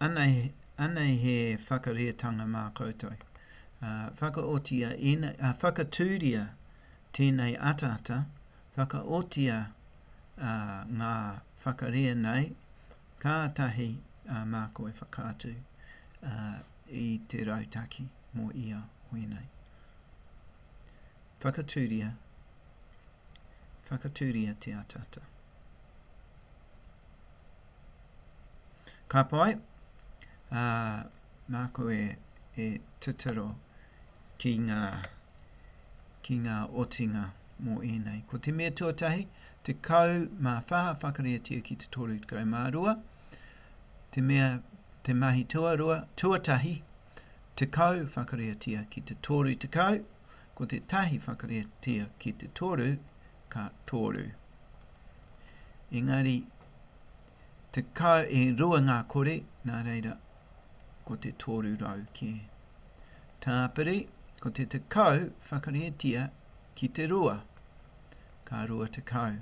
Anei he whakareatanga mā koutou, whakaotia ēnei, whakatūria tēnei ataata, whakaotia ngā whakarea nei, kātahi a mākou e whakaatu i te rautaki mō ia hui nei. Whakatūria, whakatūria te ataata. Ka pai, ā, māku e, e titiro ki ngā, ki ngā otinga mō ēnei. Ko te mea tuatahi, 14 whakaritea ki te 32, te mea te mahi tuarua, tuatahi, 10 whakaritea ki te 30, ko te tahi whakaritea ki te toru, ka toru. Engari, tekau e rua ngā kore, nā reira, ko te tōru rau kē. Tāpiri, ko te tekau whakaritea ki te rua, ka rua tekau.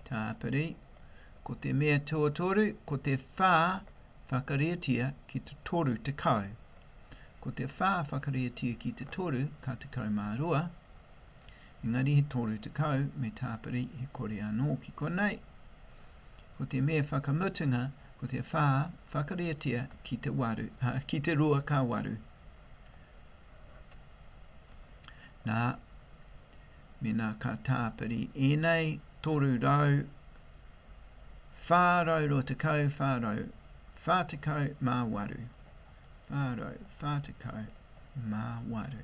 Tāpiri, ko te mea tuatoru, ko te whā whakaritea ki te toru tekau. Ko te whā whakaritea ki te toru, ka tekau mā rua. Engari he 30 me tāpiri he kore anō ki konei. Ko te mea whakamutunga ko te whā whakariatia ki te waru, a, ki te rua ka waru. Nā, mena ka tāpiri ēnei 300, 420, 440 mā waru. 440 mā waru.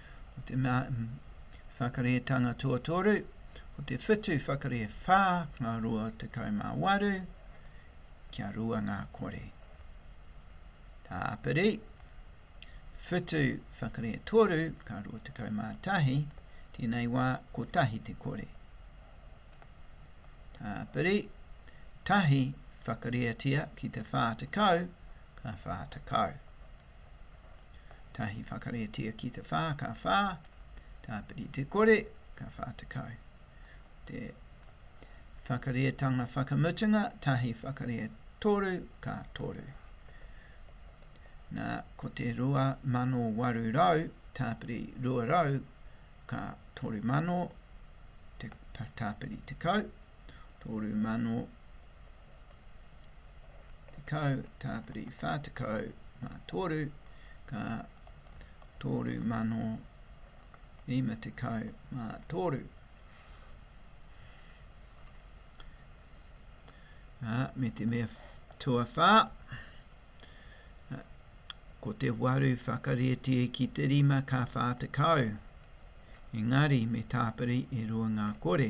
Ko te mea whakarē tanga tuatoru, ko te whitu whakarē whā ngā rua tekau mā waru, kia rua ngā kore. Tā Aperi, whitu whakarē toru ngā rua tekau mā tahi, tēnei wā kotahi te kore. Tā Aperi, tahi whakarēatia ki te whā tekau, ka whā tekau. Tahi whakaretia ki te whā, ka whā, tāpiri te kore, ka whā tekau. Te whakareatanga whakamutunga, tahi whakarea toru, ka toru. Nā, ko te rua mano waru rau, tāpiri rua rau, ka toru mano, te tāpiri tekau, toru mano, Tekau Tāpiri 43 ka 3053 ā, me te mea tuawhā, ko te waru whakarietie ki te rima ka 40, engari me tāpiri e rua ngā kore.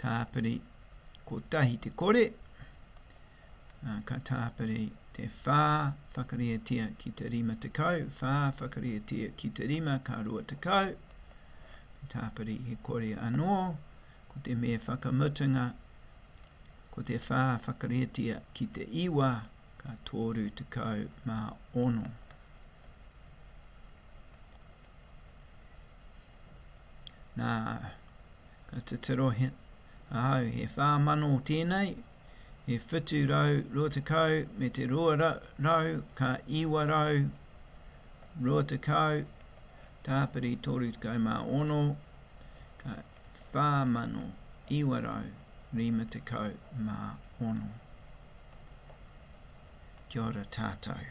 tāpiri kotahi te kore, ā, ka tāpiri te whā whakarietia ki te rima tekau, whā whakarietia ki te rima ka rua tekau, me tāpiri he kore anō, ko te me whakamutunga, ko te whā whakarietia ki te iwa ka tōru tekau mā ono. Nā, ka titiro ahau, he whā mano tēnei, he whitu rau rua tekau me te rua rau, ka iwa rau rua tekau, tāpiri toru tekau mā ono, ka whā mano iwa rau rima tekau mā ono. Kia ora tātou.